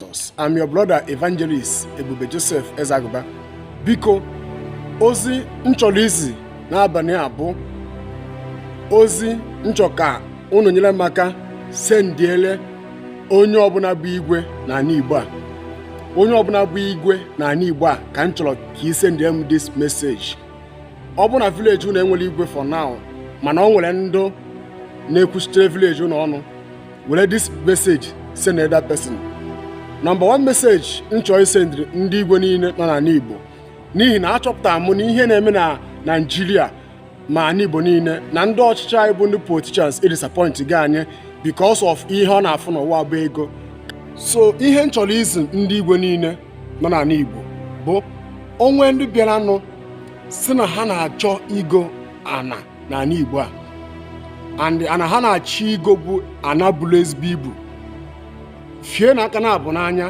Jesus. I'm your brother evangelist Ebube Joseph Ezeaguba. Biko ozi m chọrọ izi n'abalị a bụ ozi m chọ ka unu nyere m aka sendiele onye ọbụla bụ igwe n'ala Igbo a onye ọbụla bụ igwe n'ala Igbo a ka m chọrọ ka ị sendiere m this message ọ bụ na vileji unu enwerọ igwe for now mana o nwere ndụ na-ekwuchitere vileji unu ọnụ were this message send that person number one message m chọrọ isendịrị ndị igwe niile nọ n'ala igbo n'ihi na achọpụtara m na ihe na-eme na naijiria ma ala igbo niile na ndị ọchịchị anyị bụ ndị politicians edisappointgo anyị because of ihe ọ na-afụ n'ụwa bụ ego so ihe m chọrọ izi ndị igwe niile nọ n'ala igbo bụ o nwee ndị bịaranụ sị na ha na-achọ igo ana n'ala Igbo a and ana ha na-achọ igo bụ ana buru ezigbo ibu fienụ aka naabọ n'anya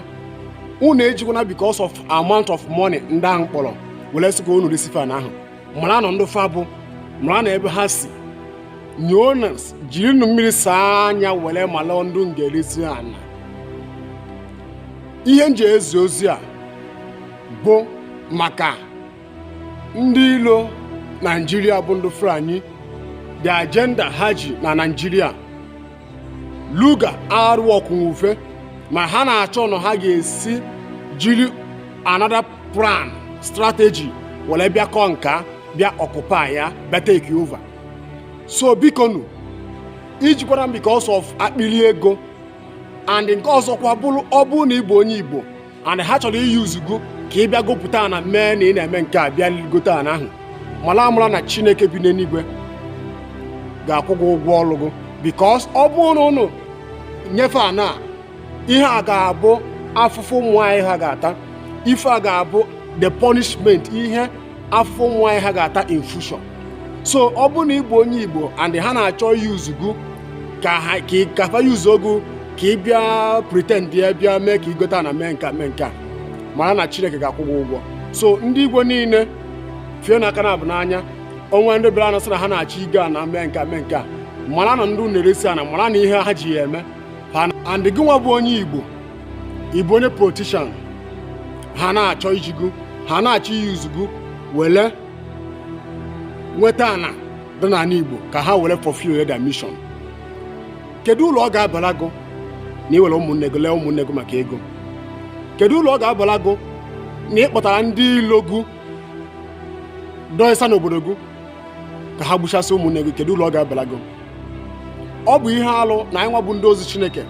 unu ejikwana because of amount of money ndị ahụ kpọrọ were sị ka unu resi fa ana ahụ maranụ ndị fa bụ maranụ ebe ha si nyoo na jirinụ mmiri saa anya were mala ndị unu ga-eresi ana ihe m ji ezi ozi a bụ maka ndị ilo naijiria bụ ndị fulani the agenda ha ji na naijiria Ruga arụ ọkwụnwufe ma ha na-achọ ụzọ ha ga-esi jiri another plan strategy were bịa conquer bịa occupy bịa take over so bikonụ ejikwala because of akpịrị ego and nke ọzọkwa bụrụ ọ bụrụ na ị bụ onye igbo and ha chọrọ iyuzu gụ ka ị bịa gopụta ana mee na ị na-eme nke a bịa gote ana ahụ mara amara na chineke bi n'eluigwe ga-akwụ gị ụgwọ ọrụ gị bikos ọ bụrụ na unu nye fa ana ihe a ga-abụ afụfụ ụmụ anyị ha ga-ata ife a ga-abụ the punishment ihe afụ ụmụ anyị ha ga-ata in future so ọ bụ na ị bụ onye igbo and ha na-achọ iyuzu gụ ka ha ka ị- ka fa yuzuo gụ ka ị bịa pretendia bịa mee ka i gota ana mee nka mee nka mara na chineke ga-akwụ gị ụgwọ so ndị igbo niile fienụ aka naabọ n'anya o nwee ndị bịaranụ sị na ha na-achọ igo ana mee nka mee nka maranụ ndị unu na-eresi ana maranụ ihe ha ji ya eme Ha na- and gị nwa bụ onye igbo ị bụ onye politishan ha na-achọ iji gụ ha na-achọ iyuzu gụ were nweta ana dị n'ala Igbo ka ha were fulfill their mission kedu uru ọ ga-abara gụ na i were ụmụnne gị lee ụmụnne gị maka ego kedu uru ọ ga-abara gụ na ị kpọtara ndị ilo gụ dọịsa n'obodo gị ka ha gbuchasị ụmụnne gị kedu uru ọ ga-abara gị ọ bụ ihe alụ na anyị nwa bụ ndị ozi chineke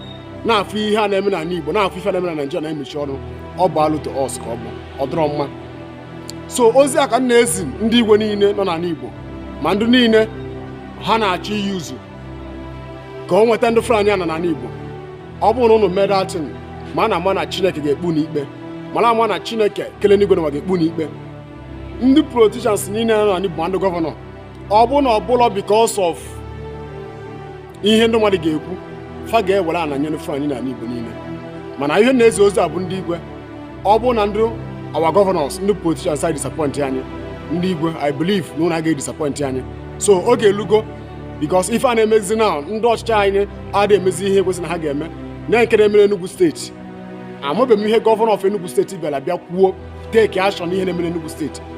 na-afụ ihe a na-eme n'ala igbo na-afụ ife na-eme na naijiria na-emechi ọnụ ọ bụ alụ to us ka ọ bụ ọ dụrọ mma so ozi a ka m na-ezi ndị igwe niile nọ n'ala igbo ma ndị niile ha na-achọ iyi uzu ka o nweta ndị fulani ana n'ala igbo ọ bụrụ na ụnụ mee that thing mara ama na chineke ga-ekpe ụnụ ikpe mara ama na chineke kele enigwe na ụwa ga-ekpe ụnụ ikpe ndị politicians niile nọ n'ala igbo ma ndị gọvanọ ọ bụ na ọ bụrọ because of ihe ndị mmadụ ga-ekwu fa ga-ewere ana nyere fulani na igbo niile mana ihe na-ezi ozi a bụ ndị igwe ọ bụ na ndị our governors ndị politicians anyị disappoint anyị ndị igwe i believe na ụnụ agaghị disappoint anyị so oge elugo because ife a na-emezi na ndị ọchịchị anyị adịghị emezi ihe kwesịrị na ha ga-eme na nke na-emere Enugu steeti amabeghị m ihe gọvanọ of Enugu steeti bịara bịa kwuo take action ihe na-emere Enugu steeti